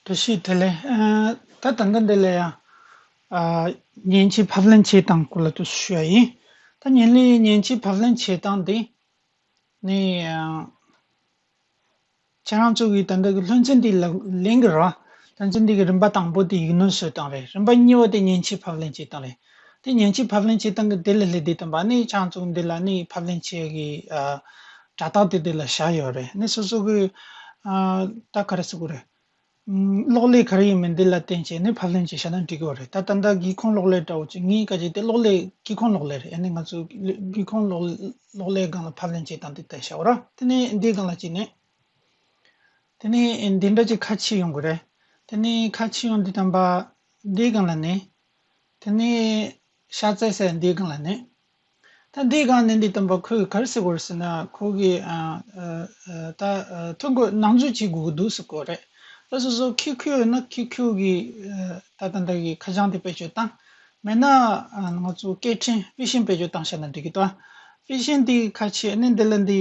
དེ་ཤེས་དེ་ལས། ད་ད་ལྟ་འདི་ལ་ཡང། མཉེན་ཆས་ཕབ་ལེན་བྱེད་སྟངས་སྐོར་ལ་ཐུགས་གསོ་ཞུ་བ་ཡིན། ད་མཉེན་ལས་མཉེན་ཆས་ཕབ་ལེན་བྱེད་སྟངས་འདི། ནི། ཁྱེད་རང་ཚོ་གིས་ད་ལྟ་གི་ལྷུན་རྩེ་འདི་ལག་ལེན་གི་ར། ལྷུན་རྩེ་འདི་གི་རིམ་པ་དང་པོ་དེ་ཡིག་སྣོན་བཟོས་སྟངས་རེད་རིམ་པ་གཉིས་པ་དེ་མཉེན་ཆས་ཕབ་ལེན་བྱེད་སྟངས་རེད། དེ་ཉིན་གྱི་ཕབ་ལེན་བྱེད་སྟངས་ཀྱི་དེ་ལས་ལྷད་དེ་དམ་པ་ནི་ཆང་བཙུགས་འདི་ལ་ནི་ཕབ་ལེན་བྱེད་ཀྱི་དྲ་བཏགས་དེ་དེ་ལ་བཞག་ཡོད་རེད་ནི་སོ་སོ་གི་ད་ག་རེ་བསུ་གི་རེད། གློག་ཀླད་ག་རེ་ཡིན་མིན་དེ་ལ་བརྟེན་བྱས་ནི་ཕབ་ལེན་བྱེད་ཞེ་ན་འགྲིག་གི་རེད་ད་ད་ལྟ་སྒེའུ་ཁུང་གློག་ཀླད་དྲ་བོ་ཆེ་ལྔའི་ཀ་ཆེ་དེ་གློག་ཀླད་སྐྱི་ཁུང་གློག་ཀླད་རེད་ཡ་ནི་ང་ཚོས་སྒེའུ་ཁུང་གློག་ཀླད་སྒང་ལ་ཕབ་ལེན་བྱེད་སྟངས་དེ་ལྟར་བྱའོ་ར་དེ་ནི་འདིའི་སྒང་ལ་བྱས་ནས་དེ་ནི་འདི་འདྲ་གྱི་ཁ་ཕྱེ་ཡོང་གི་རེད་དེ་ནི་ཁ་ཕྱེ་ཡོང་འདི་དམ་པ་འདིའི་སྒང་ལ་ནི། དེ་ནས་ཤ་བཙལ་སའི་འདི་གང་ལ་ནི། ད་འདི་གང་ནི་འདི་སྟོན་པ་ཁོས་གར་སི་བར་ཟེར་ན་ཁོ་གི། ད་ཐུག་གོ་ནང་འཛུལ་བྱེད་དགོས་ཀྱི་འདུག་ཟེར་གོ་རེད། ད་སོ་སོ་ཁྱོད་ཁྱོད་ཡོད་ན་ཁྱོད་ཁྱོད་ཀྱི། ད་ད་ད་གི་ཁ་བྱང་དེ་བེད་སྤྱོད་བཏང། མེད་ན། ང་ཚོ་སྐད་འཕྲིན་དཔེ་ཤིང་བེད་སྤྱོད་བཏང་ཤ་ན་འགྲིག་གི་ཏོ། དཔེ་ཤིང་དེ་གི་ཁ་ཕྱེས་ནས་འདི་ལ་འདི།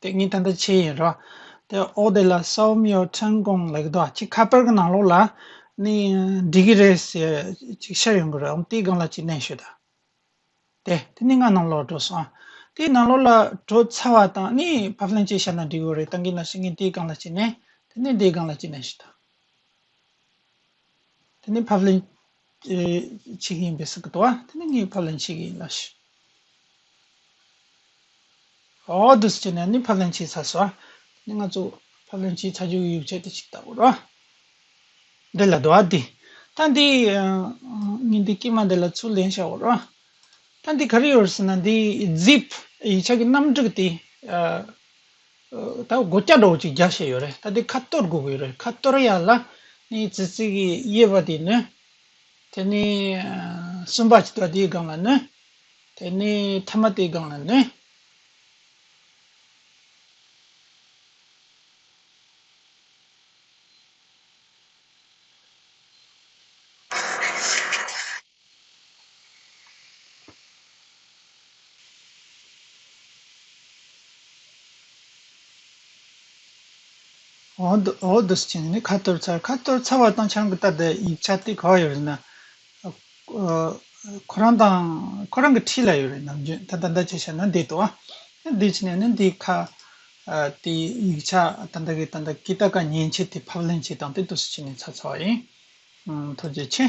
ཏེ་ངའི་ད་ལྟ་ཆེ་ཡིན་རོ། དེ་ཨོ་དེ་ལ་སའོ་མིའོ་ཁྲེང་ཀོང་ལེགས་དོ་ཅིག་ཁ་པར་གྱི་ནང་ལོགས་ལ་ནི་འགྲིག་གི་རེད་ཟེར་ཅིག་ཤར་ཡོང་གི་རེད་འོང་དེའི་སྒང་ལ་ཅིག་གནས་ཤོད་ད། དེ་དེ་ནི་ང་ནང་ལོགས་འགྲོ་སོང། དེའི་ནང་ལོགས་ལ་འགྲོ་ཚར་བ་དང་ནི་ཕབ་ལེན་ཅིག་བྱ་ན་འགྲིག་གི་རེད་ད་གིན་ན་ཤི་ངས་དེའི་སྒང་ལ་ཅིག་གནས་དེ་ནི་དེའི་སྒང་ལ་ཅིག་གནས་ཤོད་ད། དེ་ནི་ཕབ་ལེན་བྱེད་ཀྱི་ཡིན་པས་སོགས་ཀྱི་དོ། དེ་ནི་ངས་ཕབ་ལེན་བྱེད་ཀྱི་ཡིན་ལ། ཨོ་དུ་སི་ཅན་ནས་ནི་ཕབ་ལེན་བྱས་ཚར་སོ། དེ་ནི་ང་ཚོ་ཕབ་ལེན་བྱས་ཚར་རྒྱུའི་ཡིག་ཆ་དེ་ཞིག་ལྟ་བུ་རོ། འདི་ལ་དོ། དེ་ད་འདི་ཉིན་འདི་སྐྱེས་མ་འདི་ལ་ཚུར་ལེན་བྱ་བ་རོ། ད་འདི་ག་རེ་ཡོད་ཟེར་ན་འདི zip ཡིག་ཆ་གི་གནམ་གྲུ་དེ། ད་སྒོ་སྐྱ་སྒྲོག་ཅིག་རྒྱག་བཞིན་ཡོད་རེད་ད་དེ་ཁ་གཏོར་དགོས་ཀྱི་རེད་ཁ་གཏོར་ཡག་ལ་ནི་ཙི་ཙི་གི་དབྱེ་བ་དེ་ནི། དེ་ནི་སུམ་པ་ཅིག་ལ་དེའི་སྒང་ལ་ནི། དེ་ནི་ཐ་མ་དེའི་སྒང་ལ་ནི། འོག་ཏུ་བྱིན་ནས་ཁ་གཏོར་ཚར་ཁ་གཏོར་ཚར་བ་དང་ཆང་གི་ལྟ་དེ་ཡིག་ཆ་དེ་ག་བ་ཡོད་རེད་ན། ཁོ་རང་དང་ཁོ་རང་གི་འཁྲིས་ལ་ཡོད་རེད་ནམ་རྒྱུན་ད་ལྟ་འདི་བྱས་བྱས་ན་འདི་དོ་ཨ། ནས་འདི་བྱས་ནས་ནི་འདི་ཁ། དེ་ཡིག་ཆ་ད་ལྟ་གི་ད་ལྟ་གི་ད་ག་ཉན་བྱས་དེ་ཕབ་ལེན་བྱས་དང་དེ་དུས་སུ་བྱས་ནས་ཚར་ཚར་བ་ཡིན། ཐུགས་རྗེ་ཆེ།